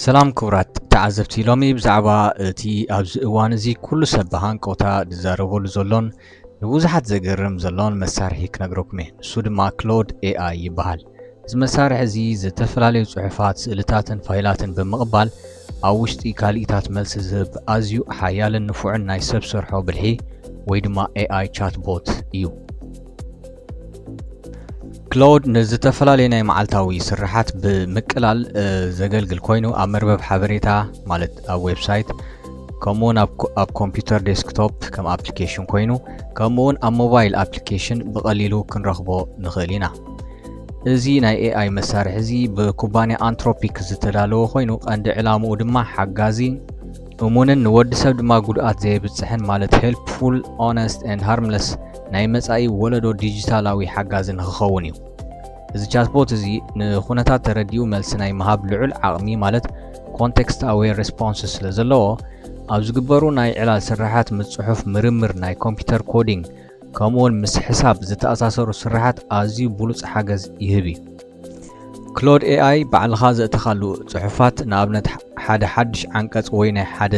ሰላም ክቡራት ተዓዘብቲ ሎሚ ብዛዕባ እቲ ኣብዚ እዋን እዚ ኩሉ ሰብ ብሃንቀውታ ዝዛረበሉ ዘሎን ንብዙሓት ዘገርም ዘሎን መሳርሒ ክነግረኩም እየ ንሱ ድማ ክሎድ ኤኣይ ይበሃል እዚ መሳርሒ እዚ ዝተፈላለዩ ጽሑፋት፣ ስእልታትን ፋይላትን ብምቕባል ኣብ ውሽጢ ካልኢታት መልሲ ዝህብ ኣዝዩ ሓያልን ንፉዕን ናይ ሰብ ሰርሖ ብልሒ ወይ ድማ AI chatbot እዩ። ክላውድ ንዝተፈላለዩ ናይ መዓልታዊ ስርሓት ብምቅላል ዘገልግል ኮይኑ ኣብ መርበብ ሓበሬታ ማለት ኣብ ዌብሳይት ከምኡ እውን ኣብ ኮምፒውተር ዴስክቶፕ ከም ኣፕሊኬሽን ኮይኑ ከምኡ እውን ኣብ ሞባይል ኣፕሊኬሽን ብቐሊሉ ክንረኽቦ ንኽእል ኢና። እዚ ናይ ኤኣይ መሳርሒ እዚ ብኩባንያ ኣንትሮፒክ ዝተዳለወ ኮይኑ ቀንዲ ዕላምኡ ድማ ሓጋዚ እሙንን ንወዲ ሰብ ድማ ጉድኣት ዘየብፅሕን ማለት ሄልፕፉል ኦነስት ን ሃርምለስ ናይ መፃኢ ወለዶ ዲጂታላዊ ሓጋዚ ንክኸውን እዩ እዚ ቻትቦት እዚ ንኩነታት ተረዲኡ መልሲ ናይ ምሃብ ልዑል ዓቕሚ ማለት ኮንቴክስት ኣዌር ሬስፖንስ ስለ ዘለዎ ኣብ ዝግበሩ ናይ ዕላል ስራሓት ምፅሑፍ ምርምር ናይ ኮምፒውተር ኮዲንግ ከምኡውን ምስ ሕሳብ ዝተኣሳሰሩ ስራሓት ኣዝዩ ብሉጽ ሓገዝ ይህብ እዩ። ክሎድ ኤኣይ ባዕልኻ ዘእተኻሉ ጽሑፋት፣ ንኣብነት ሓደ ሓድሽ ዓንቀጽ ወይ ናይ ሓደ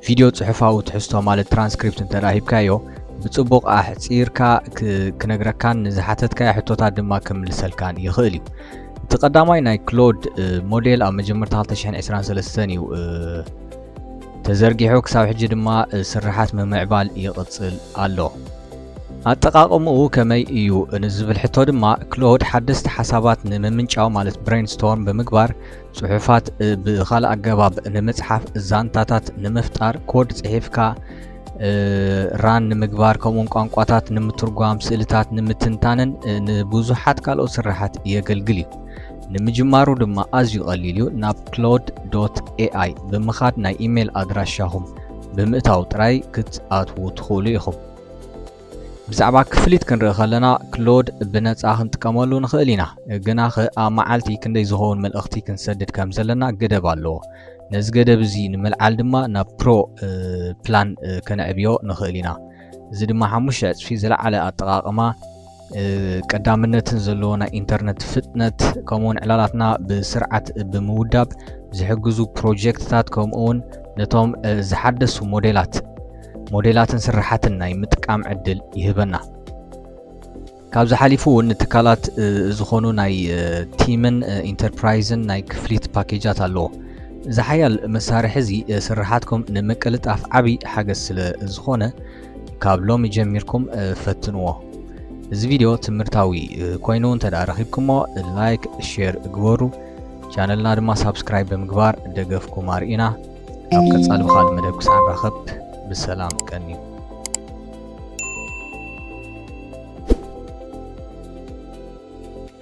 ቪድዮ ጽሑፋዊ ትሕዝቶ ማለት ትራንስክሪፕት እንተ ሂብካዮ ብጽቡቕ ኣሕጺርካ ክነግረካን ንዝሓተትካዮ ሕቶታት ድማ ክምልሰልካን ይኽእል እዩ እቲ ቀዳማይ ናይ ክሎድ ሞዴል ኣብ መጀመርታ 223 እዩ ተዘርጊሑ ክሳብ ሕጂ ድማ ስርሓት ምምዕባል ይቕጽል ኣሎ። ኣጠቓቕምኡ ከመይ እዩ ንዝብል ሕቶ ድማ ክሎድ ሓደስቲ ሓሳባት ንምምንጫው ማለት ብሬን ስቶርም ብምግባር ጽሑፋት ብኻልእ ኣገባብ ንምጽሓፍ ዛንታታት ንምፍጣር ኮድ ጽሒፍካ ራን ንምግባር ከምኡውን ቋንቋታት ንምትርጓም ስእልታት ንምትንታንን ንብዙሓት ካልኦት ስራሓት የገልግል እዩ ንምጅማሩ ድማ ኣዝዩ ቀሊል እዩ ናብ ክሎድ ዶት ኤኣይ ብምኻድ ናይ ኢሜል ኣድራሻኹም ብምእታው ጥራይ ክትኣትዉ ትኽእሉ ኢኹም ብዛዕባ ክፍሊት ክንርኢ ከለና ክሎድ ብነፃ ክንጥቀመሉ ንኽእል ኢና ግና ኸ ኣብ መዓልቲ ክንደይ ዝኸውን መልእኽቲ ክንሰድድ ከም ዘለና ገደብ ኣለዎ ነዚ ገደብ እዚ ንምልዓል ድማ ናብ ፕሮ ፕላን ከነዕብዮ ንኽእል ኢና እዚ ድማ ሓሙሽተ ዕፅፊ ዝለዓለ ኣጠቃቅማ ቀዳምነትን ዘለዎ ናይ ኢንተርነት ፍጥነት ከምኡውን ዕላላትና ብስርዓት ብምውዳብ ዝሕግዙ ፕሮጀክትታት ከምኡውን ነቶም ዝሓደሱ ሞዴላት ሞዴላትን ስራሓትን ናይ ምጥቃም ዕድል ይህበና ካብዚ ሓሊፉ እውን ንትካላት ዝኾኑ ናይ ቲምን ኢንተርፕራይዝን ናይ ክፍሊት ፓኬጃት ኣለዎ እዚ ሓያል መሳርሒ እዚ ስራሓትኩም ንምቅልጣፍ ዓብይ ሓገዝ ስለ ዝኾነ ካብ ሎሚ ጀሚርኩም ፈትንዎ እዚ ቪድዮ ትምህርታዊ ኮይኑ እንተ ረኺብኩሞ ላይክ ሼር ግበሩ ቻነልና ድማ ሳብስክራይብ ብምግባር ደገፍኩም ኣርእና ኣብ ቀጻሊ ብካል መደብ ክሳዕ ንራኸብ ብሰላም ቀንዩ